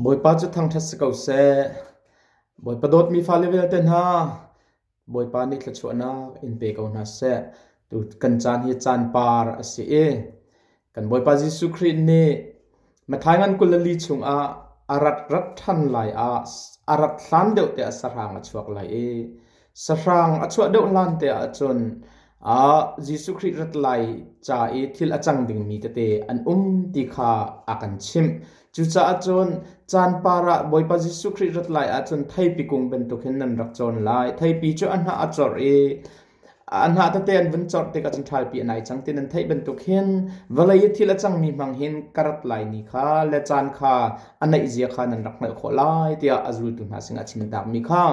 Bawipa cu thangṭhat si ko seh. Bawipa dawtmi fale vialte hna, Bawipa nih thluachuahnak in pe ko hna seh. Tu kan caan hi caan par a si i kan Bawipa Jesuh Khrih nih Matthai ngan kul le li chungah a rat rat ṭhan lai ah a rat hlan deuh te ah sahrang a chuak lai i Sahrang a chuah deuh hlante ahcun Jesuh Khrih rat lai ca i thil a cang dingmi tete an um ti kha a kan chimh. Cucaah cun caan par ah Bawipa Jesuh Khrih rat lai ahcun theipi kung bantuk hin nan rak cawn lai. Theipi cu a hnah a corh i a hnah tete an vun corh tikah cun thalpi a nai cang ti nan theih bantuk hin vawlei i thil a cangmi hmang hin ka rat lai ni kha le caan kha a neihzia kha nan rak hngalh khawh lai tiah a zultu hna sinah a chim takmi kha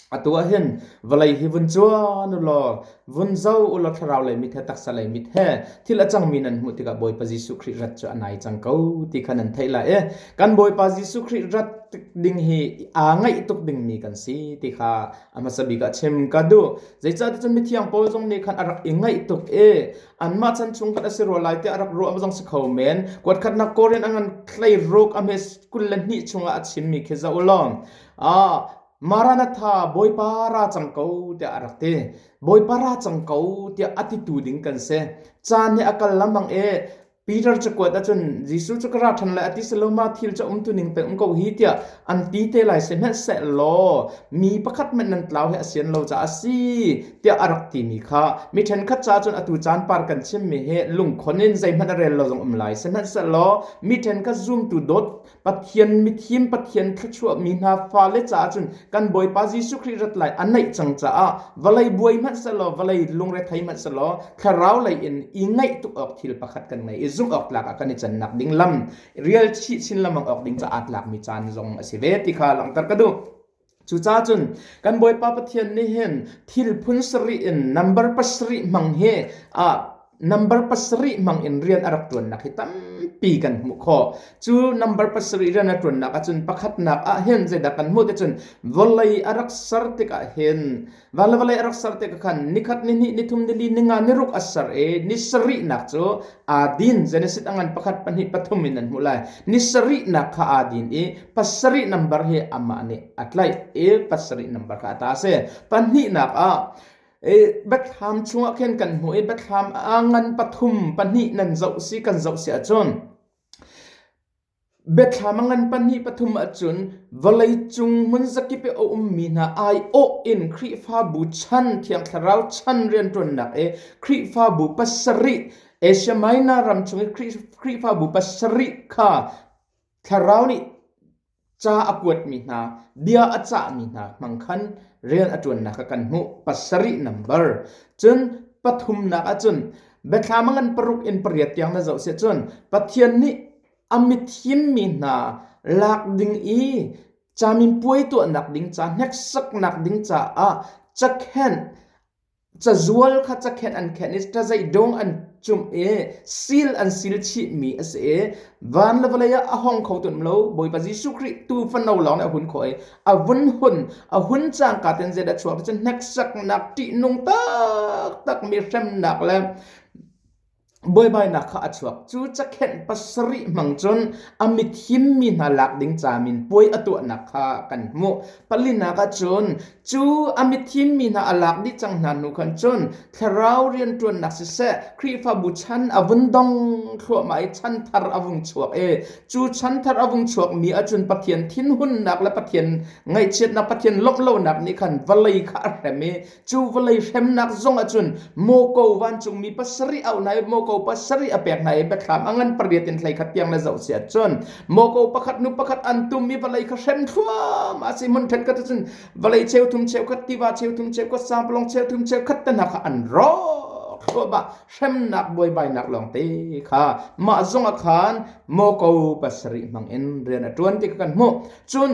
Atu ah hin vawlei hi vun cuan u law vun zo u law thlarau lei mit he taksa lei mit he thil a cangmi nan hmuh tikah Bawipa Jesuh Khrih rat cu a nai cang ko ti kha nan theih lai i kan Bawipa Jesuh Khrih rat ding hi aa ngaih tuk dingmi kan si ti kha a hmasa bik ah chim ka duh zeicahticun mithiang Paul zong nih khan a rak i ngaih tuk i anmah chan chung khan a si rua lai tiah a rak ruah zong si kho men kuat khatnak Korin a ngan thlei ruk a hme kul le hnih chungah a chimmi khi zoh u law Maranatha Bawipa ra cang ko tiah a rak ti. Bawipa ra cang ko tiah a titu ding kan si. Caan hi a kal lambang e Peter cu kuat ahcun Jesuh cu ka ra ṭhan lai a ti saloma thil cu um tu ning peng um ko hi tiah an ti te lai si hmanh seh law mi pakhat hmanh nan tlau hi a sian lo caah a si tiah a rak timi kha mi ṭhenkhat ca cun atu caan par kan chimmi hi lungkhon in zeihmanh a rel lo zong um lai si hmanh seh law mi ṭhenkhat zumtu dawt Pathian mithim Pathian thluachuahmi hna fale caah cun kan Bawipa Jesuh Khrih rat lai an naih cang caah vawlei buai hmanh selaw vawlei lungre thei hmanh selaw thlarau lei in i ngaih tuk awk thil pakhat kan ngei i zung awk tlak ah kan i cannak ding lam rial chih chin lamang awk ding caah tlakmi caan zong a si ve ti kha langhter ka duh. Cucacun kan Bawipa Pathian nih hin thil phun sarih in number pasarih hmang hi a number pasarih hmang in rian a rak ṭuannak hi tampi kan hmuh khawh. Cu number pasarih rian a ṭuannak ahcun pakhatnak ah hin zeidah kan hmuh ti cun vawlei a rak ser tikah hin Van le vale rak ser te ka khan nikhat ni hnih nithum nili ninga niruk asar e ni sarih nak cu adin Genesis angan pakhat pahnih pathum in an hmu lai ni sarih nak kha adin i pasarih nambar hi ama nih atlai e pasarih nambar kha ata se pahnih nak ah e bethlam chungah khin kan hmu i bethlam a ngan pathum pahnih nan zoh si kan zoh si ahcun Biathlam a ngan pahnih pathum ahcun vawleicung hmunzakip i a ummi hna aiawh in Khrihfabu chan, Thiang Thlarau chan rianṭuannak i Khrihfabu pasarih, Asia Minor ram chung i Khrihfabu pasarih kha Thlarau nih ca a kuatmi hna, bia a cahmi hna hmang khan rian a ṭuannak kha kan hmuh. Pasarih nambar. Cun pathumnak ahcun Bethlehem ngan paruk in pariat tiang na zoh siah cun Pathian nih a mithim mi hna lak ding i camin puai tuahnak ding ca hneksaknak ding caah cakhenh cazual kha cakhenh an khenh i cazei dong an cumh i sil an sil chih mi a si i van le vawlei ah a hong kho tuan lo Bawipa Jesuh Khrih tu fano lawng nih a hun khawh i a vun hun a hun cangka ten zeid a chuak cun hneksaknak ṭihnung taktak mi hremnak le buaibainak kha a chuak cu cakhenh pasarih hmang cun a mit himmi hna lak ding camin puai a tuahnak kha kan hmuh palinak ah cun cu a mit himmi hna a lak dih cang hna hnu khan cun Thlarau rianṭuannak siseh Khrihfabu chan a vun dong thluahmah i chan thar a vung chuak i cu chan thar a vung chuakmi ahcun Pathian thinhunnak le Pathian ngaihchiatnak Pathian lawmhlonak nih khan vawlei kha a hrem i cu vawlei hremnak zong ahcun mawko vancungmi pasarih a hna i mawko pasarih a pek hna i biathlam a ngan pariat in hlei khat tiang le zoh si ahcun mawko pakhat nu pakhat an tum i vawlei kha hrem thluahmah a si hmun ṭhetkhat ahcun vawlei cheu thum cheu khat tiva cheu thum cheu khat samplong cheu thum cheu khat tenak kha an rawk hruaba hremnak buaibainak lawngte kha mah zong a khan moko pasarih mangin rian a tuan ti kan hmuh cun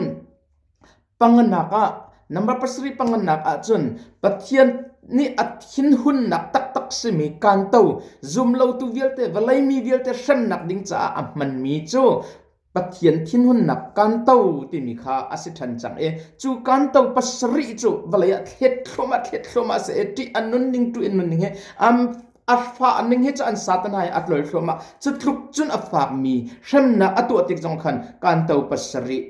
panganak ah number pasarih panganak ah cun pathian nih a thinhunnak taktak simi kanto zumlotu vialte vawlei mi vialte hremnak ding caah a hmanmi cu Pathian thinhunnak kanto timi kha a si ṭhan cang i cu kanto pasarih cu vawlei ah thlet thluam ah thlet thluam ah a si i ṭih a nun ning tu in nun ning hi am a fah ning hi cu an satan hai a tlol thluam ah cu tluk cun a fakmi hremnak a tuah tik zong khan kanto pasarih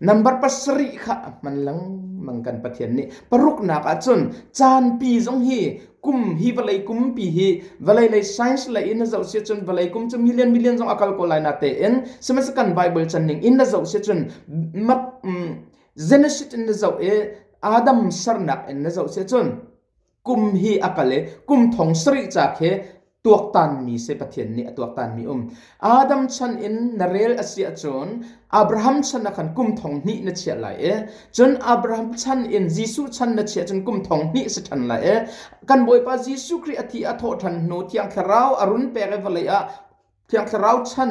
Nambar pasarih kha a hman lengmang kan Pathian nih paruknak ah cun caanpi zong hi kum hi vawlei kum pi hi vawlei lei science lei in na zoh si cun vawlei kum cu million million zong a kal ko lai na te in sihmanhsehlaw kan bible channing in na zoh si cun genesis in na zoh i adam sernak in na zoh si cun kum hi a kal i kum thong sarih ca khi tuaktanmi si Pathian nih a tuaktanmi um. Adam chan in na rel a si ahcun Abraham chan ah khan kum thong hnih na chiah lai e. Cun Abraham chan in Jesuh chan na chiah cun kum thong hnih si ṭhan lai e. Kan Bawipa Jesuh Khrih a thi a thawh ṭhan hnu Thiang Thlarau a run pek i vawlei ah Thiang Thlarau chan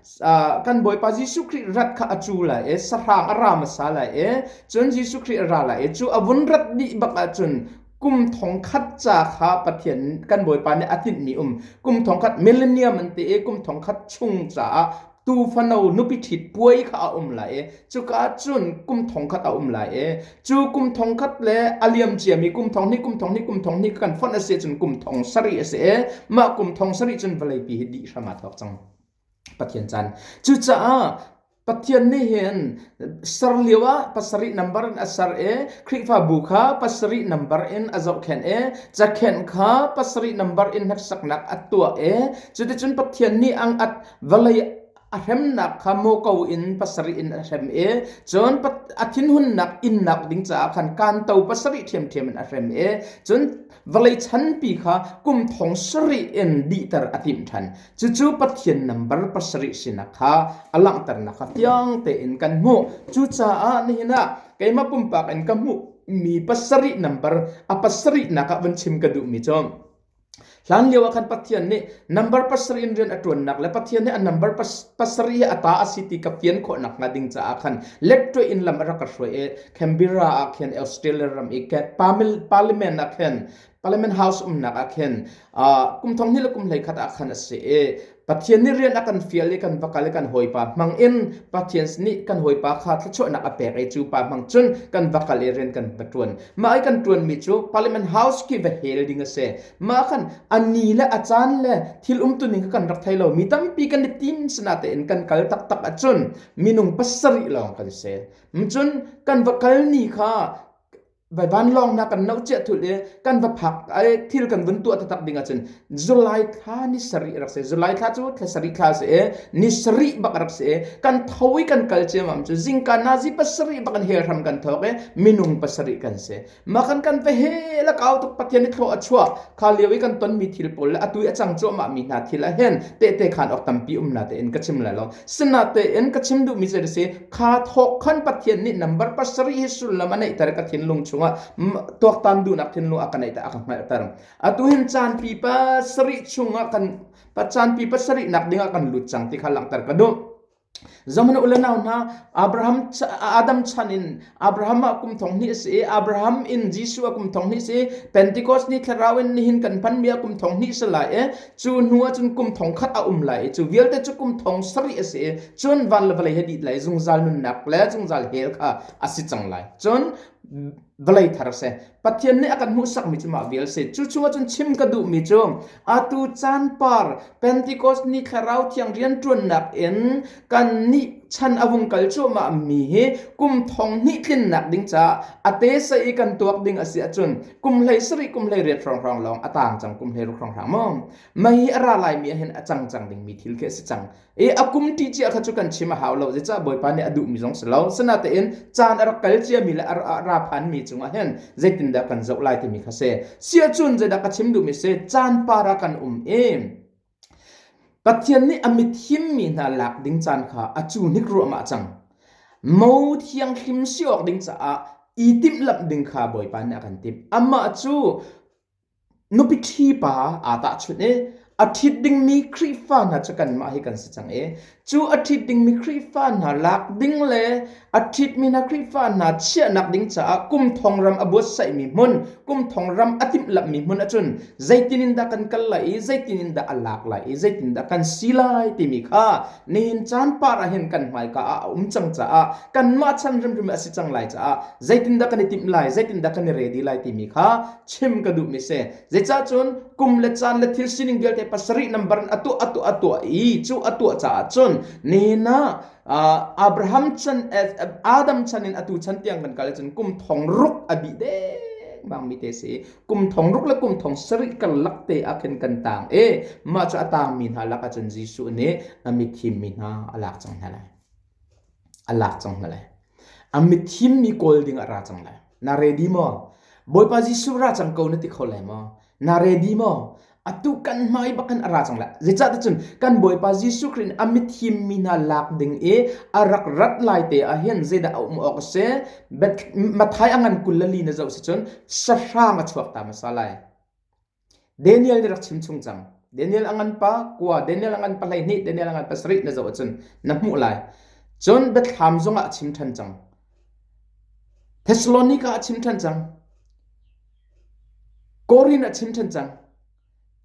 kan Bawipa Jesuh Khrih rat kha a cu lai e sahrang a ra hmasa lai e cun Jesuh Khrih a ra lai e cu a vun rat dih bak ah cun kum thong khat ca kha Pathian kan Bawipa nih a hninh mi um kum thong khat millennium an ti i kum thong khat chung caah tufano nupi ṭhit puai kha a um lai e cuka cun kum thong khat a um lai e cu kum thong khat le a liam cia mi kum thong hnih kum thong hnih kum thong hnih kan fonh a si cun kum thong sarih a si e mah kum thong sarih cun vawlei pi hi dih hram aa thawk cang Pathian chan. Cucaah Pathian nih hin ser lio ah pasarih nambar in a ser i Khrihfabu kha pasarih nambar in a zohkhenh i cakhenh kha pasarih nambar in hneksaknak a tuah i cuticun Pathian nih ang at vawlei a hremnak kha mawko in pasarih in a hrem i cun a thinhunnak innak ding caah khan kanto pasarih ṭhiamṭhiam in a hrem i cun vawlei chanpi kha kum thong sarih in dihter a timh ṭhan. Cucu Pathian nambar pasarih sinak kha a langhternak kha tiang tein kan hmuh. Cucaah nihin ah keimah pumpak in ka hmuhmi pasarih nambar a pasarih nak ah vun chim ka duhmi cu hlan lio ah khan Pathian nih nambar pasarih in rian a ṭuannak le Pathian nih a nambar pasarih hi a ta a si ti ka fian khawhnak hnga ding caah khan letṭwe in lam a rak ka hruai i Canberra ah khin Australia ram i ket parliament ah khin parliament house umnak ah khin kum thong hnih le kum hlei khat ah khan a si i Pathian nih rian a kan fial i kan va kal i kan hawipa hmang in Pathian nih kan hawipa kha thluachuahnak a pek i cu pa hmang cun kan va kal i rian kan va ṭuan mah i kan ṭuanmi cu parliament house khi va hel ding a si mah khan a ni le a caan le thil umtuning kan rak thei lo mi tampi kan i tim sinah tein kan kal taktak ahcun minung pasarih lawng kan si Ncun kan va kal ni kha vai vanlawng na kan lo cia thul i kan va phak ai thil kan vun tuah tatak ding ahcun zulai thla ni sari rak si zulai thla cu thla sari thla si ni sari bak rak si kan tho i kan kal ciam am cu zingka nazi pasarih bak in helhram kan thawk i minung pasarih kan si Makan kan ve he la kau tuk pathian i thlo a chua kha lio i kan ton mi thil pawl le atui a cang cuahmah mi hna thil a hen te te khan ok tampi um na te in ka chim la lo sina te in ka chim du mi se si kha thok khan pathian ni number pasari hi sullam anei tar ka thin lung chunga tuak tan du nak thin lu aka nei ta aka ngal tar atu hin chan pi pa sari chunga kan pa chan pi pa sari nak ding a kan lut chang ti kha lang tar ka du Zong na u le nau hna, Abraham Adam chan in Abraham a kum thong hnih a si i Abraham in Jesuh a kum thong hnih a si Pentecost ni thlarau in nihin kan hmanmi a kum thong hnih si lai i cu hnu ah cun kum thong khat a um lai i cu vialte cu kum thong sarih a si i cun van le vawlei he dih lai zungzal nunnak le zungzal hell kha a si cang lai cun vawlei thar a si Pathian nih a kan hmuhsakmi cu mah vial se. Cu chungah cun chim ka duhmi cu atu caan par Pentecost ni thlarau thiang rianṭuannak in kan nih chan a hung kal cuahmah mi hi kum thong hnih tlinnak ding caah a te sa i kan tuak ding a si ahcun kum hlei sarih kum hlei riat hrawnghrang lawng a tang cang kum hlei ruk hrawnghrang maw. Mei hi a ra lai mi ahhin a cang cang ding mi thil khi a si cang. i a kum ṭi cia kha cu kan chim a hau lo zeicah bawipa nih a duhmi zong si lo sinatein caan a rak kal ciami le a ra phanmi cungah hin zeitindah kan zoh lai timi kha si siacun zeidah ka chim duhmi si caan para kan um i Pathian nih a mithimmi hna lak ding caan kha a cu hnik ruahmah cang mo thianghlim si awk ding caah i timhlamh ding kha bawipa nih a kan timh amah cu Nupi ṭhi pa aa tahchunh i a ṭhit dingmi Khrihfa hna cu kanmah hi kan si cang i cu a ṭhit dingmi Khrihfa hna lak ding le a ṭhitmi hna Khrihfa hna chiahnak ding caah kum thong ram a buatsaihmi hmun, kum thong ram a timhlamhmi hmun ahcun zeitin in dah kan kal lai i zeitin in dah a lak lai i zeitin dah kan si lai timi kha nihin caan par ah hin kan hmaika ah a um cang caah kanmah chan hrimhrim a si cang lai caah zeitindah kan i timh lai, zeitindah kan i redi lai timi kha chim ka duhmi si zeicah cun kum le caan le thil sining vialte pasarih nambar in atuah atuah atuah i cu atuah caah cun nihin ah Abraham chan Adam chan in atu chan tiang kan kal cun kum thong ruk a bi dengmang mi te si kum thong ruk le kum thong sarih kar lak te ah khin kan tang i mah cu a tang mi hna lak ah cun Jesuh nih a mithim mi hna a lak cang hna lai a lak cang hna lai a mithim mi kawl ding ah ra cang lai na ready maw bawipa jesuh ra cang ko na ti kho lai maw na ready maw atu kan hmai bakan a ra cang lai zeicah ti cun kan bawipa jesuh khrih a mithim mi hna lak ding i a rak rat lai te ah hin zeidah a um awk se mathai a ngan kul le li na zoh si cun sahrang a chuak ta hmasa lai Daniel nih rak chimchung cang. Daniel a nganpa kua, Daniel a nganpa hleihnih, Daniel a nganpa sarih na zoh ahcun na hmuh lai. Cun Bethlehem zongah a chim ṭhan cang. Thessalonica a chim ṭhan cang. Korin a chim ṭhan cang.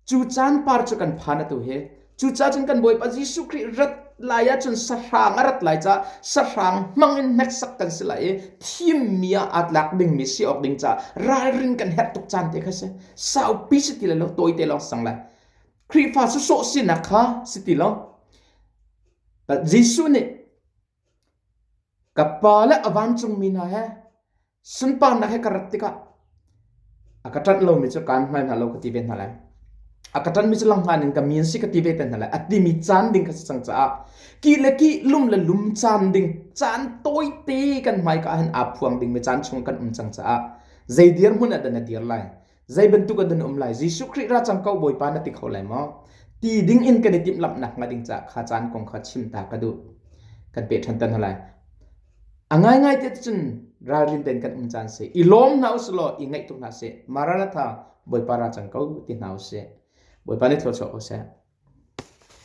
Cu caan par cu kan phan atu hi Cucaah cun kan Bawipa Jesuh Khrih rat lai ahcun sahrang a rat lai caah sahrang hmang in hneksak kan si lai i thimmi ah aa tlak dingmi si awk ding caah ralrin kan herh tuk caan te kha si. Saupi si ti lo tawite lawng sang lai. Khrihfa susawh sinak kha si ti lo. Jesuh nih ka pa le a vancungmi hna he Sunparnak he ka rat tikah a ka ṭanh lomi cu kaan hngal hna lo ka ti ve hna lai. A ka ṭanmi cu langhngan in ka mi an si ka ti ve te hna lai. A timi caan ding ka si cang caah ki le ki lum le lum caan ding caan tawite kan hmaika ahhin aa phuang dingmi caan chung kan um cang caah zei dir hmun ah dah na dir lai? zei bantuk an um lai Jesuh Khrih ra cang ko Bawipa na ti kho lai maw ti ding in kan i timh lamnak nga ding ca kha caan kong kha chim ta ka duh kan pe ṭhan tan lai a ngai ngai te cun ralrin ten kan um caan se i lawm hna usih law i ngaih tuk hna se maranatha Bawipa ra cang ko ti hna usih Bawipa ni tho ko seh